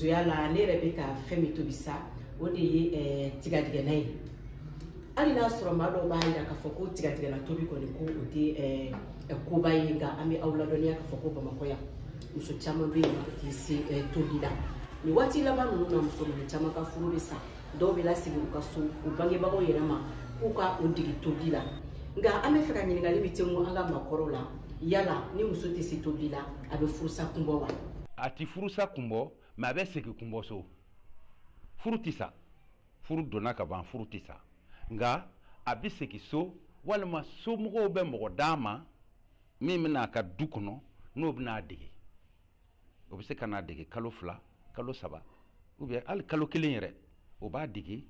musoya la ne yɛrɛ bɛ ka fɛn min tobi sa o de ye eh, tigadigɛna ye hali n'a sɔrɔ maa dɔw b'a jira k'a fɔ ko tigadigɛna tobi kɔni ko o tɛ eh, eh, koba ye nka an bɛ aw ladɔnniya k'a fɔ ko bamakɔ yan muso caman bɛ yen u tɛ se tobili la nin waati laban ninnu na muso caman ka furu bɛ sa dɔw bɛ lasegin u ka so u bangebagaw yɛrɛ ma k'u ka o dege tobili la nka an bɛ fɛ ka ɲininkali min tɛngu an ka maakɔrɔw la yala ni muso tɛ se tobili la a bɛ furusa kun bɔ wa a ti furusa kun bɔ mais a bɛ segin kun bɔ so furu tɛ sa furu donna ka ban furu tɛ sa nka a bɛ segin so walima somɔgɔw bɛ mɔgɔ d'a ma min bɛ na a ka du kɔnɔ n'o bɛna a dege o bɛ se ka n'a dege kalo fila kalo saba ou bien hali kalo kelen yɛrɛ o b'a dege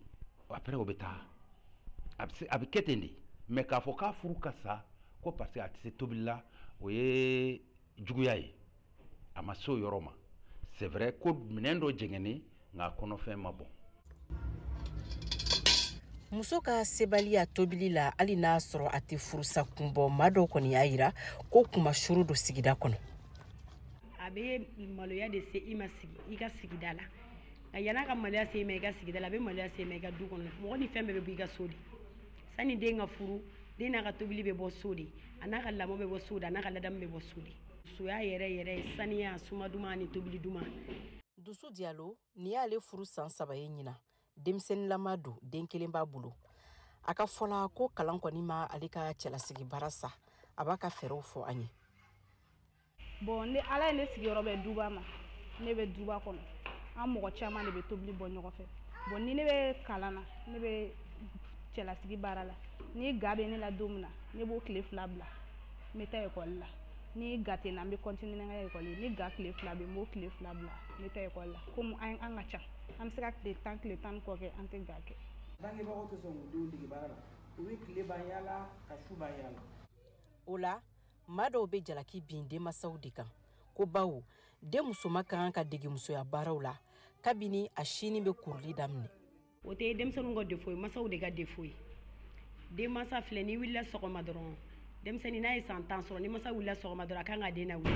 après o bɛ taa a bɛ kɛ ten de mais k'a fɔ k'a furu ka sa ko parce que a tɛ se tobili la o ye juguya ye a ma se o yɔrɔ ma c'est vrai ko minɛn dɔ jɛngɛnnen nka kɔnɔfɛn ma bɔn muso ka sebaliya tobili la hali n'a sɔrɔ a tɛ furusa kun bɔ maa dɔw kɔni y'a yira ko kunmasuuru don sigida kɔnɔ a bɛ maloya de se i ma sigi i ka sigida la nka yann'a ka maloya se i ma i ka sigida la a bɛ maloya se i ma i ka du kɔnɔ mɔgɔ ni fɛn bɛɛ bɛ bɔ i ka so de sani den ka furu den n'a ka tobili bɛ bɔ so de a n'a ka lamɔ bɛ bɔ so de a n'a ka ladamu bɛ bɔ so de musoya yɛrɛ ye saniya suma duman ani tobili duman dusu diyalo nin y'ale furu san saba ye ɲinan denmisɛnninlama don den kelen b'a bolo a ka fɔ la ko kalan kɔni ma ale ka cɛlasigi baara sa a b'a ka fɛɛrɛw fɔ an ye bɔn ni ala ye ne sigiyɔrɔ bɛ duba ma ne bɛ duba kɔnɔ an mɔgɔ caman de bɛ tobili bɔ ɲɔgɔn fɛ bɔn ni ne bɛ kalan na ne bɛ cɛlasigi baara la ni ga bɛ ne la don min na ne b'o tile fila bila n bɛ taa ekɔli la ni ga tɛ n na n bɛ continuer n ka école ni ga tile fila bɛ yen n b'o tile fila bila n bɛ taa école la komi an an ka ca an bɛ se ka tile tan tile tan ni kɔ kɛ an tɛ ga kɛ. bangebagaw tɛ sɔn k'u denw dege baara la u bɛ tile ban yaala ka su ban yaala. o la maa dɔw bɛ jalaki bin denmasaw de kan ko bawo den musoma ka kan ka dege musoya baaraw la kabini a sin bɛ kuruli daminɛ. o tɛ denmisɛnninw ka defo ye masaw de ka defo ye denmansa filɛ n'i wulila sɔgɔma dɔrɔn denmisɛnnin n'a ye san tan sɔrɔ ni masa wulila sɔgɔma dɔrɔn a kan ka den nawuli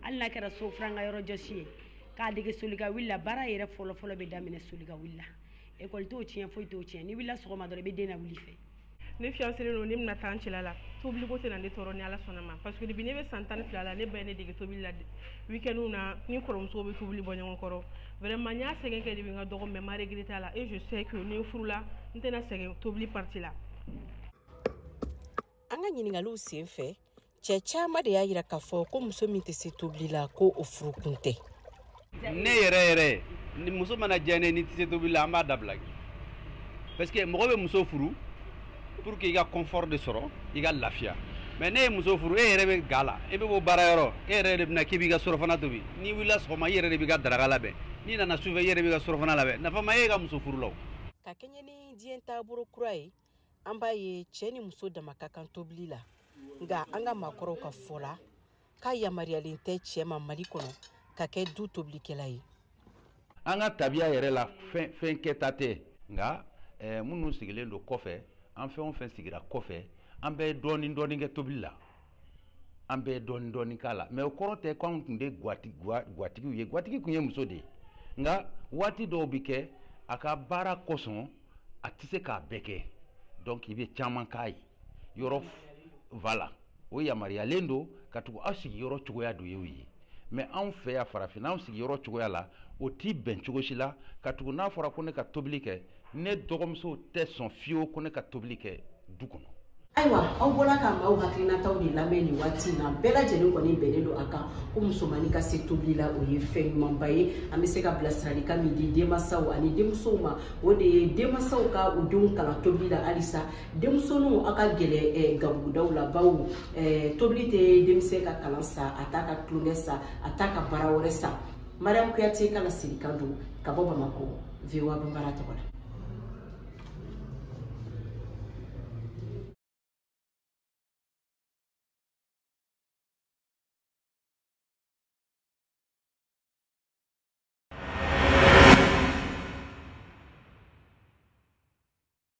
hali n'a kɛra so furan ka yɔrɔ jɔsi ye k'a dege solika wuli la baara yɛrɛ fɔlɔfɔlɔ bɛ daminɛ solika wuli la ekɔli t'o tiɲɛ foyi t'o tiɲɛ n'i wulila sɔgɔma dɔrɔn i bɛ den nawuli fɛ ne fiyanselen don ne bɛna taa n cɛla la tobiliko tɛna ne tɔɔrɔ ni ala sɔnna a ma parce que depuis ne bɛ san tan ni fila la ne ba ye ne dege tobili la weekendw na ni kɔrɔmusow bɛ tobili bɔ ɲɔgɔn kɔrɔ vraiment n y'a sɛgɛn kɛ dɛ n ka dɔgɔ mais n ma regretter a la et je sais que ni n furula n tɛna sɛgɛn tobili partie la an ka ɲiningaliw sen fɛ cɛ caaman de y'a yira k'a fɔ ko muso min tɛ se tobili la ko o furukun tɛ ne yɛrɛ yɛrɛ ni muso mana diya ne n'i tɛ se tobili la an b'a dabila parce que mɔgɔ bɛ muso furu pour que i ka confort de sɔrɔ i ka lafiya mais n'e ye muso furu e yɛrɛ bɛ ga la e bɛ bɔ baara yɔrɔ e yɛrɛ de bɛna k'i b'i ka surafana tobi n'i wulila sɔgɔma i yɛrɛ de b'i ka daraka labɛn n'i nana sufɛ i yɛrɛ b'i ka surafana labɛn nafa ma ye i ka muso furu la o ka kɛɲɛ ni diɲɛ taabolo kura ye an b'a ye cɛ ni muso dama ka kan tobili la nka an ka maakɔrɔw ka fɔ la k'a yamaruyalen tɛ cɛ ma mali kɔnɔ ka kɛ du tobilikɛla ye an ka tabiya yɛrɛ la fɛn kɛta tɛ nka eh, minnu sigilen don kɔfɛ an fɛn o fɛn sigira kɔfɛ an bɛɛ ye dɔɔnin dɔɔnin kɛ tobili la an bɛ dɔɔni dɔɔni k'a la mais o kɔrɔ tɛ ko anw tun de gwatigiw ye gwatigi tun ye muso de ye nka waati dɔw bɛ kɛ a ka baara kosɔn a tɛ se k'a bɛɛ kɛ donc i bɛ caman k'a ye yɔrɔ voilà o yamaruyalen don katugu aw sigiyɔrɔ cogoya dɔ y'o ye mais anw fɛ yan farafinna anw sigiyɔrɔ cogoya la o tɛ bɛn cogo si la katugu n'a fɔra ko ne ka tobili kɛ ne dɔgɔmusow tɛ sɔn fiyewu ko ne ka tobili kɛ du kɔnɔ ayiwa aw bɔra ka maaw hakilinataw de lamɛn nin waati in na bɛɛ lajɛlen kɔni bɛnnen don a kan ko musomannin ka se tobili la o ye fɛn ɲumanba ye an bɛ se ka bilasiralikan min di denmansaw ani denmusow ma o de ye denmansaw ka u denw kalan tobili la halisa denmusoninw aw ka gɛrɛ gabugudaw la bawo eh, tobili tɛ denmisɛn ka kalan sa a t'a ka tulonkɛ sa a t'a ka baara wɛrɛ sa mariam kuyate ka laselikan don ka bɔ bamakɔ voa bambara tɔgɔ la